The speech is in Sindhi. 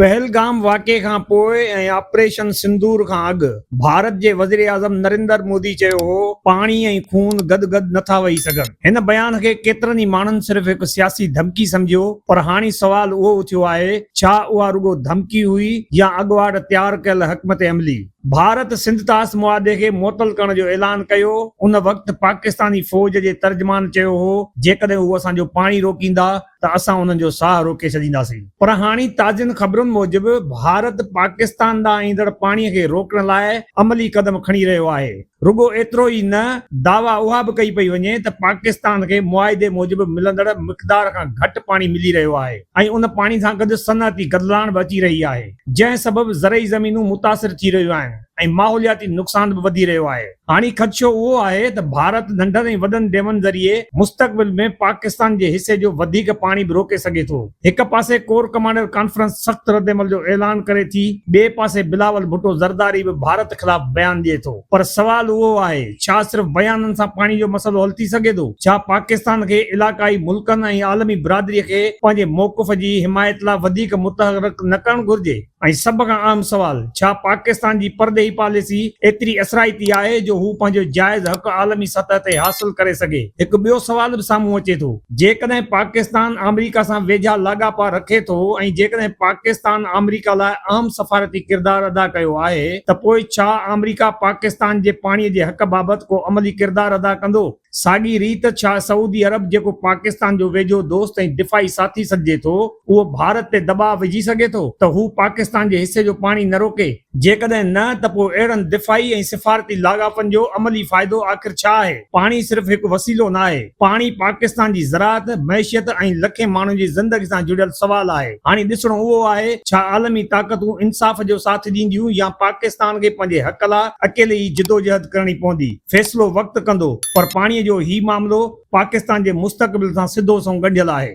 پهلگام واقعي کان پوء ۽ آپريشن سندور کان اڳ ڀارت جي وزيراعظم نريندر مودي چيو هو ته پاڻي ۽ خون گڏ گڏ نه ٿا وهي سگهن. هن بيان کي ڪيترن ئي ماڻهن صرف هڪ سياسي ڌمڪي سمجهيو پر هاڻي سوال اهو اٿيو آهي ڇا اها رڳو ڌمڪي هئي يا اڳواٽ تيار ڪيل حڪمت عملي. ڀارت سنڌ طاس معاهدي کي معطل ڪرڻ جو اعلان ڪيو ان وقت پاڪستاني فوج جي ترجمان چيو هو جيڪڏهن هو اسان جو پاڻي روڪيندا ته اسان انهن جو ساهه روڪي ڇڏينداسين. پر هاڻي تازين خبرن موجب ڀارت پاڪستان ڏانهن ايندڙ پاڻي کي روڪڻ لاء عملي قدم کڻي رهيو آهي. رڳو ايترو ئي نه دعويٰ اها به ڪئي پئي وڃي ته پاڪستان کي معاهدي موجب ملندڙ مقدار کان گهٽ پاڻي ملي رهيو آهي ۽ ان پاڻي سان گڏ صنعتي گدلاڻ به اچي رهي آهي جنهن سبب زرعي زمينون متاثر ٿي رهيون آهن. ۽ ماحولياتي نقصان به وڌي رهيو آهي. هاڻي خدشو اهو آهي ته ڀارت ننڍن ۽ وڏن ڊيمن ذريعي مستقبل ۾ پاڪستان جي حصي جو وڌيڪ پاڻي به روڪي سگهي ٿو. هڪ پاسي ڪور ڪمانڊر ڪانفرنس سخت ردعمل جو اعلان ڪري ٿي، ٻئي پاسي بلاول ڀٽو زرداري به ڀارت خلاف بيان ڏئي ٿو. پر سوال اهو آهي، ڇا صرف بيانن سان پاڻي جو مسئلو حل ٿي سگهي ٿو؟ ڇا پاڪستان کي علاقائي ملڪن ۽ عالمي برادري کي پنهنجي موقف جي حمايت لاء وڌيڪ متحرڪ نه ڪرڻ گهرجي؟ ۽ سڀ کان اهم سوال، ڇا پاڪستان جي پرڏيهي پاليسي ايتري اثرائتي آهي جو هو پنهنجو جائز حق عالمي سطح تي حاصل ڪري سگهي؟ هڪ ٻيو سوال به سامهون اچي ٿو. جيڪڏهن پاڪستان آمريڪا سان ويجها لاڳاپا رکي ٿو ۽ جيڪڏهن پاڪستان آمريڪا لاء اهم سفارتي ڪردار ادا ڪيو آهي ته پوء ڇا آمريڪا پاڪستان جي پاڻي جي حق بابت ڪو عملي ڪردار ادا ڪندو؟ ساڳي ريت ڇا سعودي عرب جيڪو پاڪستان جو ويجهو دوست ۽ دفاعي ساٿي سڏجي ٿو اهو ڀارت تي دٻاء وجهي سگهي ٿو ته هو پاڪستان جي حصي جو پاڻي نه روڪي؟ جيڪڏهن نه ته پوء اهڙن دفاعي ۽ سفارتي لاڳاپن جو عملي فائدو آخر ڇا آهي؟ پاڻي صرف هڪ وسيلو نه آهي، پاڻي پاڪستان جي زراعت، معيشت ۽ لکين ماڻهن جي زندگي سان جڙيل سوال آهي. هاڻي ڏسڻو اهو آهي ڇا عالمي طاقتون انصاف جو ساٿ ڏينديون يا پاڪستان کي پنهنجي حق لاء اڪيلي ئي جدوجهد ڪرڻي پوندي؟ فيصلو وقت ڪندو پر پاڻي جو هي معاملو پاڪستان جي مستقبل سان سڌو سنئون ڳنڍيل آهي.